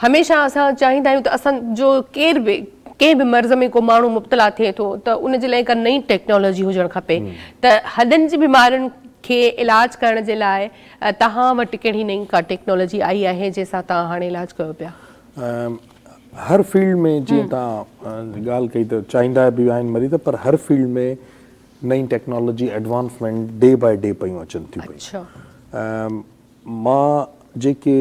هميشه اسان چاهيندا آهيون ته اسان جو ڪير به ڪنهن به مرض ۾ ڪو ماڻهو مبتلا ٿئي ٿو ته ان جي لاء هڪ نئين ٽيڪنالاجي هجڻ کپي ته هڏن جي بيمارين کي علاج ڪرڻ جي لاء توهان وٽ ڪهڙي نئين ڪا ٽيڪنالاجي آئي آهي جنهن سان توهان هاڻي علاج ڪيو پيا؟ هر فيلڊ ۾ جيئن توهان ڳالهه ڪئي ته چاهيندا به آهن مريض پر هر فيلڊ ۾ نئين technology advancement day by day پيون اچن ٿيون پيون مان جيڪي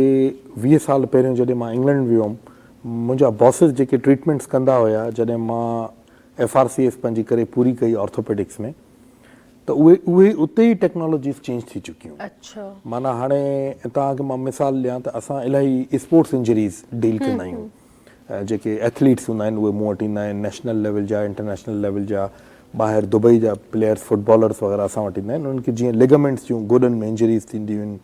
ويهه سال پهريون جڏهن مان انگلنڊ ويو هئم منهنجا باسز جيڪي ٽريٽمينٽس ڪندا هيا جڏهن مان ايف آر سي ايف پنهنجي ڪري پوري ڪئي آرٿوپيڊڪس ۾ ته اهي اهي اتي ئي ٽيڪنالاجيز چينج ٿي چڪيون معنيٰ هاڻي توهان کي مان مثال ڏيان ته اسان الاهي اسپورٽس انجريز ڊيل ڪندا آهيون جيڪي ايٿليٽس هوندا آهن اهي مون وٽ ايندا آهن نيشنل ليول جا انٽرنيشنل ليول جا ٻاهر دبئي جا پليئرس فٽبالرس وغيره اسان وٽ ايندا آهن انهن کي جيئن ليگامينٽس جون گوڏن ۾ انجريز ٿينديون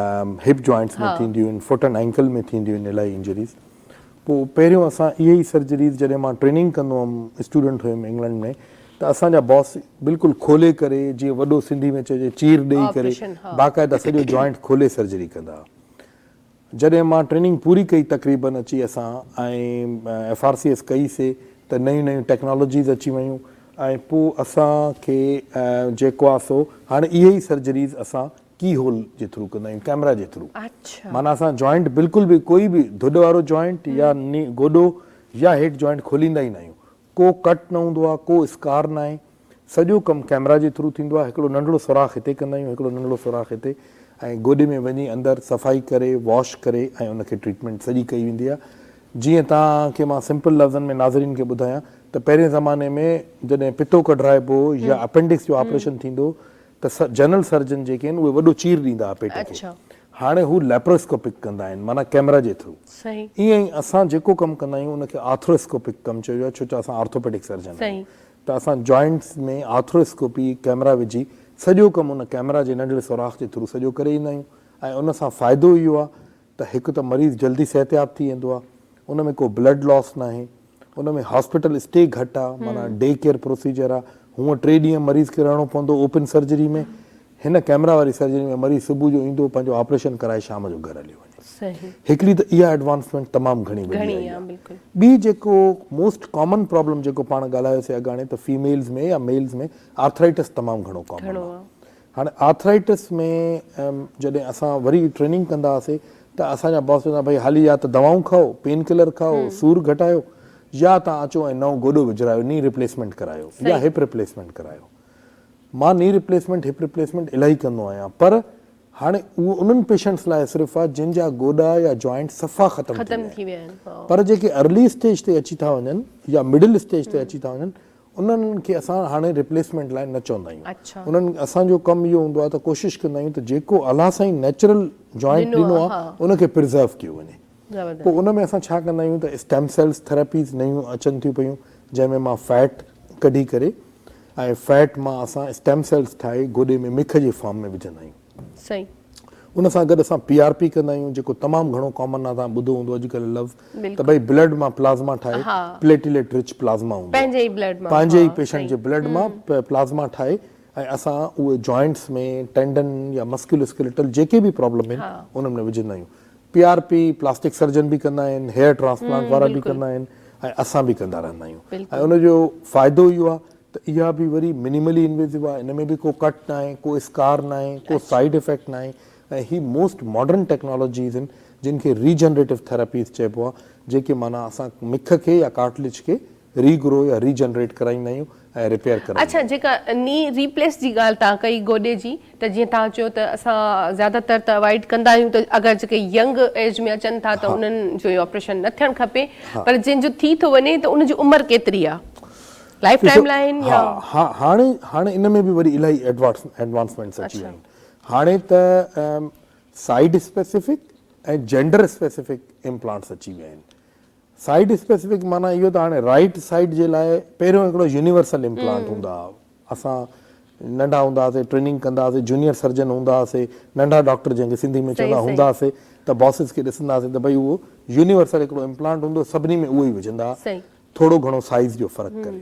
آهن هپ جوائنٽس ۾ ٿينديون آهن فوٽ اينڊ ائنڪل ۾ ٿينديون آهن الائي انجريز پوء پهريون اسان اهي ئي سرجريز جڏهن مان ٽريننگ ڪندو هوم اسٽوڊنٽ هيم انگلنڊ ۾ ته اسان جا باس بلڪل کولي ڪري جيئن وڏو سنڌي ۾ چئجي چير ڏئي ڪري باقاعده سڄو جوائنٽ کولي سرجري ڪندا هئا جڏهن مان ٽريننگ پوري ڪئي تقريبن اچي اسان ايف آر سي ايس ڪئي سي ته نيون نيون ٽيڪنالاجيز اچي ويون ۽ پو اسان کي جيڪو آ سو هاڻي اهي ئي سرجريز اسان ڪي هول جي ٿرو ڪندا آهيون ڪيمرا جي ٿرو معنيٰ اسان جوائنٽ بلڪل به ڪوئي به ڌڏ وارو جوائنٽ يا ني گوڏو يا هيٺ جوائنٽ کوليندا ئي نه آهيون ڪو ڪٽ نه هوندو آهي، ڪو اسڪار ناهي، سڄو ڪم ڪيمرا جي ٿرو ٿيندو آهي، هڪڙو ننڍڙو سوراخ هتي ڪندا آهيون، هڪڙو ننڍڙو سوراخ هتي ۽ گوڏي ۾ وڃي اندر صفائي ڪري واش ڪري ۽ ان کي ٽريٽمينٽ سڄي ڪئي ويندي آهي، جيئن توهان کي مان سمپل لفظن ۾ ناظرين کي ٻڌايان ته پهرين زماني ۾ جڏهن پتو ڪڍرائبو هو يا اپينڊڪس جو آپريشن ٿيندو هو ته جنرل سرجن جيڪي آهن اهي وڏو چير ڏيندا هئا پيٽ کي هاڻي هو ليپرواسڪوپڪ ڪندا آهن معنيٰ ڪيمرا جي ٿرو ائين ئي اسان جيڪو ڪم ڪندا آهيون ان کي آرٿرواسڪوپڪ ڪم چئجو آهي ڇو جو اسان آرٿوپيڊڪ سرجن آهيون ته اسان جوائنٽس ۾ آرٿرواسڪوپي ڪيمرا وجهي سڄو ڪم ان ڪيمرا جي ننڍڙي سوراخ جي ٿرو سڄو ڪري ايندا آهيون ۽ ان سان فائدو اهو آهي ته هڪ ته مريض جلدي صحتياب ٿي ويندو آهي ان ۾ ڪو بلڊ لاس ناهي ان ۾ هاسپيٽل اسٽي گهٽ آهي معنيٰ ڊي ڪيئر پروسيجر آهي هونء ٽي ڏينهن مريض کي رهڻو پوندو اوپن سرجري ۾ هن ڪيمرا واري سرجري ۾ مريض صبح جو ايندو پنهنجو آپريشن ڪرائي شام جو گهر هليو وڃي هڪڙي ته اها ايڊوانسمينٽ تمام گهڻي وڏي آئي آهي ٻي جيڪو موسٽ ڪامن پرابلم جيڪو پاڻ ڳالهايوسي اڳاڻي ته فيميلز ۾ يا ميلز ۾ آرٿرائيٽس تمام گهڻو ڪامن آهي هاڻي آرٿرائيٽس ۾ جڏهن اسان وري ٽريننگ ڪندا هئاسي ته اسان جا باس چوندا ڀئي هالي يا ته دوائون کائو، پين ڪلر کائو، سور گهٽايو يا توهان اچو ۽ نئون گوڏو وجهرايو، ني ريپليسمينٽ ڪرايو يا هپ ريپليسمينٽ ڪرايو. مان ني ريپليسمينٽ، هپ ريپليسمينٽ الاهي ڪندو آهيان پر هاڻي اهو انهن پيشنٽس لاء صرف آهي جن جا گوڏا يا جوائنٽ صفا ختم ٿي ويا آهن پر جيڪي ارلي اسٽيج تي اچي ٿا وڃن يا مڊل اسٽيج تي اچي ٿا وڃن انهن کي اسان هاڻي ريپليسمينٽ لاء نه چوندا آهيون. انهن اسان جو ڪم اهو هوندو آهي ته ڪوشش ڪندا آهيون ته جيڪو الله سائين نيچرل جوائنٽ ڏنو آهي ان کي پرزرو ڪيو وڃي. پوء ان ۾ اسان ڇا ڪندا آهيون ته اسٽيم سيلز ٿيراپيز نيون اچن ٿيون پيون جنهن ۾ مان فيٽ ڪڍي ڪري ۽ فيٽ مان اسان اسٽيم سيلز ٺاهي گوڏي ۾ مک جي فارم ۾ وجهندا آهيون. سائين. ان سان گڏ اسان پي آر پي ڪندا آهيون جيڪو تمام گهڻو ڪامن آهي توهان ٻڌو هوندو اڄڪلهه لفظ ته ڀئي بلڊ مان پلازما ٺاهي پليٽيليٽ رچ پلازما هوندو آهي پنهنجي ئي بلڊ مان پنهنجي ئي پيشنٽ جي بلڊ مان پلازما ٺاهي ۽ اسان اهي جوائنٽس ۾ ٽينڊن يا مسڪيولو اسڪيليٽل جيڪي به پرابلم آهن انهن ۾ وجهندا آهيون P R P plastic surgeon به ڪندا آهن هيئر ٽرانسپلانٽ وارا به ڪندا آهن ۽ اسان به ڪندا رهندا آهيون ۽ ان جو فائدو اهو آهي ته اها به وري منيملي انويسو آهي ان ۾ به ڪو ڪٽ ناهي ڪو اسڪار ناهي ڪو سائيڊ افيڪٽ ناهي ۽ هي موسٽ ماڊرن ٽيڪنالاجيز آهن جن کي ري جنريٽو ٿيراپيز چئبو آهي جيڪي معنيٰ اسان مک کي يا ڪارٽليج کي ري گرو يا ري جنريٽ ڪرائيندا آهيون ۽ ريپيئر ڪرائيندا اڇا آهيون. جيڪا ني ري پليس جي ڳالهه تان ڪئي گوڏي جي ته جيئن تان چيو ته اسان زياده تر ته اوائڊ ڪندا آهيون ته اگر جيڪي ينگ ايج ۾ اچن ٿا ته انهن جو اهو آپريشن نه ٿيڻ کپي پر جنهن جو ٿي ٿو وڃي ته ان جي عمر ڪيتري آهي؟ لائف ٽائيم لائين يا ها هاڻي هاڻي ان ۾ به وري الائي ايڊوانسمينٽس اچي ويا آهن هاڻي ته side specific ۽ gender specific implants اچي ويا آهن سائيڊ اسپيسيفڪ معنيٰ اهو ته هاڻي رائيٽ سائيڊ جي لاء پهريون هڪڙو يونيورسل امپلانٽ هوندا اسان ننڍا هوندا هئاسي ٽريننگ ڪندا هئاسي جونيئر سرجن هوندا هئاسي ننڍا ڊاڪٽر جنهن کي سنڌي ۾ صحيح چوندا هوندا صحيح هئاسي ته باسز کي ڏسندا هئاسي ته ڀئي اهو يونيورسل هڪڙو امپلانٽ هوندو سڀني ۾ اهو ئي وجهندا صحيح ٿورو گهڻو سائيز جو فرق ڪري.